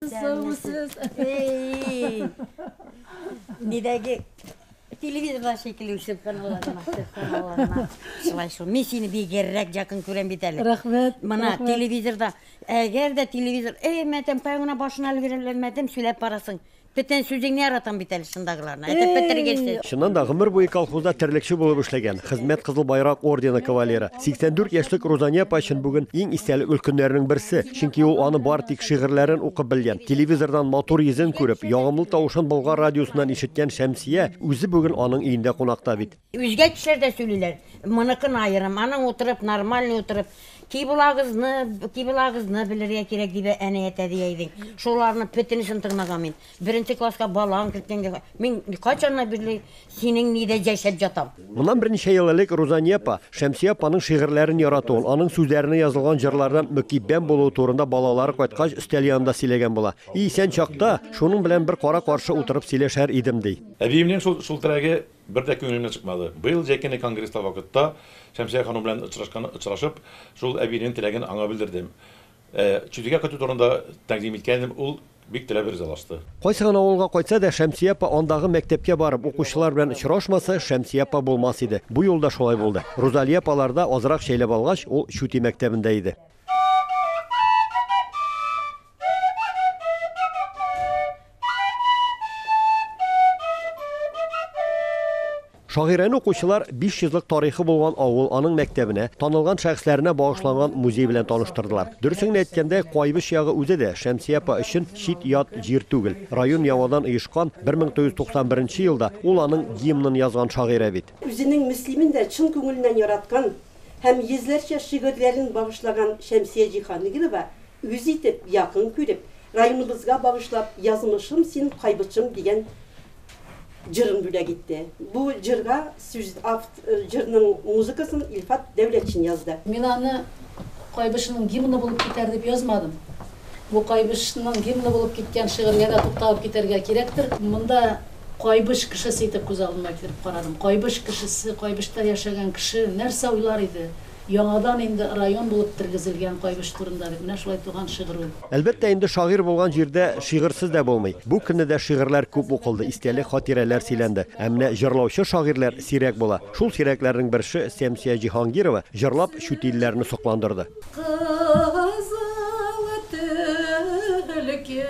Саусыз. Нидәге телевизорда шикелле үсеп каналларына, каналларына. Шулай шул. Мин сине бигеррәк якын күрәм бит әле. Рәхмәт. Мына рәхмәт. телевизорда, әгәр дә телевизор, эй, мәтәм, кая гына башына өлгерәләр, мәтәм, сөйләп барасың. Бөтен сүзеңне яратам бит әле шундагыларны. Әйтеп бетергәнсең. Чыннан да гомер буе колхозда терлекче булып эшләгән, хезмәт Кызыл Байрак ордены кавалеры, 84 яшьлек Рузания апа өчен бүген иң истәлекле көннәрнең берсе. Чөнки ул аны бар тик шигырьләрен укып белгән. Телевизордан матур йөзен күреп, ягымлы тавышын Болгар радиосыннан ишеткән Шәмсия үзе бүген аның өендә кунакта бит. Үзгә кешеләр дә сөйлиләр, моныкын аерым, аның утырып, нормальный утырып, киблагызны, киблагызны белергә кирәк, дип әнә әтә дия идең. Шуларны бөтенесен тыңлаган мин. Беренче класска балаң киткәнгә мин кайчаннан бирле синең нидә җәшәп ятам. Моннан берничә ел элек Рузания апа, Шәмсия апаның шигырьләрен яратуын, аның сүзләренә язылган җырлардан мөкиббән булуы турында балалары кайткач өстәл янында сөйләгән була. И исән чакта, шуның белән бер кара-каршы утырып сөйләшәр идем, ди. Әбиемнең шул шул теләге бер дә күңелемнән чыкмады. Быел Җәйкене конгресста вакытта Шәмсия ханым белән очрашкан очрашып, шул әбинең теләген аңа белдердем. Ә Чүтигә кайту турында тәкъдим иткәнем, ул бик теләп ризалашты. Кайсы гына авылга кайтса да, Шәмсия апа андагы мәктәпкә барып, укучылар белән очрашмаса, Шәмсия апа булмас иде. Бу юлы да шулай булды. Рузалия апаларда азрак чәйләп алгач, ул Чүти мәктәбендә иде. Шагыйрәне укучылар 500 лык тарихы булган авыл, аның мәктәбенә, танылган шәхесләренә багышланган музей белән таныштырдылар. Дөресен генә әйткәндә, Куайбыч ягы үзе дә Шәмсия апа өчен чит-ят җир түгел. Район яңадан оешкан 1991 елда ул аның гимнын язган шагыйрә бит. Үзенең Мөслимен дә чын күңеленнән яраткан һәм йөзләрчә шигырьләрен багышлаган Шәмсия Җиһангилова үз итеп, якын күреп, районыбызга багышлап Язмышым син кайбычым дигән җырын бүләк итте. Бу җырга сүз авт җырның музыкасын Илфат Дәүләтшин язды. Мин аны Кайбычның гимны булып китәр дип язмадым. Бу Кайбычның гимны булып киткән шигырьгә дә тукталып китәргә кирәктер. Монда Кайбыч кешесе итеп күз алдыма китереп карадым. Кайбыч кешесе, Кайбычта яшәгән кеше нәрсә уйлар иде? Яңадан инде район булып тергезелгән Кайбыч турында бит менә шулай туган шигырь ул. Әлбәттә инде, шагыйрь булган җирдә шигырьсез дә булмый. Бу көнне дә шигырьләр күп укылды, истәлек-хатирәләр сөйләнде. Ә менә җырлаучы-шагыйрьләр сирәк була. Шул сирәкләрнең берше, Сәмсия Җиһангирова, җырлап, чүтилләрне сокландырды. Кызыл төлке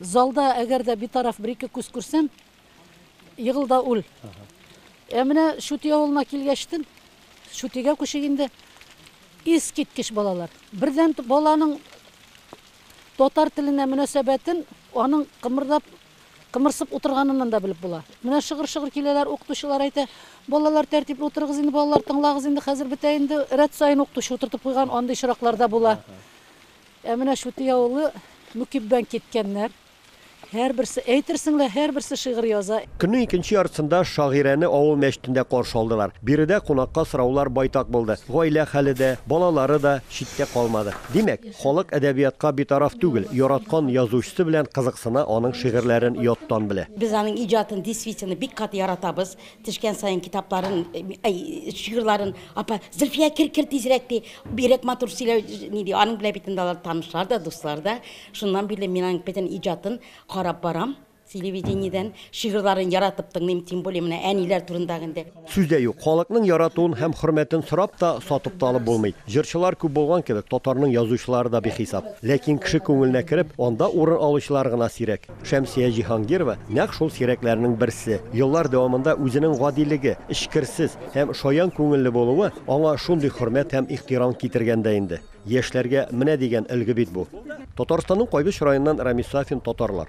Залда әгәр дә битараф бер-ике күз күрсәм, егыл да үл. Ә менә Шүти авылына килгәчтен, Шүтигә күчик инде, искиткеч балалар. Бердән баланың татар теленә мөнәсәбәтен аның кымырдап кымырсып утырганыннан да белеп була. Менә шыгыр-шыгыр киләләр, укытучылар әйтә, балалар тәртипле утырыгыз инде, балалар тыңлагыз инде, хәзер бетә инде. Рәт саен укытучы утыртып куйган андый очраклар да була. Ә менә Чүти авылы Мөкиббән киткәннәр. Һәрберсе, әйтерсең лә, һәрберсе шигырь яза. Көннең икенче яртысында шагыйрәне авыл мәчетендә каршы алдылар. Биредә кунакка сораулар байтак булды. Гаилә хәле дә, балалары да читтә калмады. Димәк, халык әдәбиятка битараф түгел, яраткан язучысы белән кызыксына, аның шигырьләрен яттан белә. Без аның иҗатын действительно бик каты яратабыз. Төшкән саен китапларын, әй, шигырьләрен, апа, Зөлфия, кер, кер тизрәк ди. Бирәк матур сөйләү, ни ди, аның белән бит инде алар танышлар да, дуслар да. Шуннан бирле мин аның бөтен иҗатын карап барам телевидениедән, шигырьләрен яратып тыңлыйм, тем более менә әниләр турындагы инде. Сүз дә юк, халыкның яратуын һәм хөрмәтен сорап та, сатып та алып булмый. Җырчылар күп булган кебек, татарның язучылары да бихисап. Ләкин кеше күңеленә кереп, анда урын алучылар гына сирәк. Шәмсия Җиһангирова нәкъ шул сирәкләрнең берсе. Еллар дәвамында үзенең гадилеге, эчкерсез һәм шаян күңелле булуы аңа шундый хөрмәт һәм ихтирам китергән дә инде. Яшьләргә менә дигән өлге бит бу. Татарстанның кайбыч районыннан Рамис Сафин татарлар.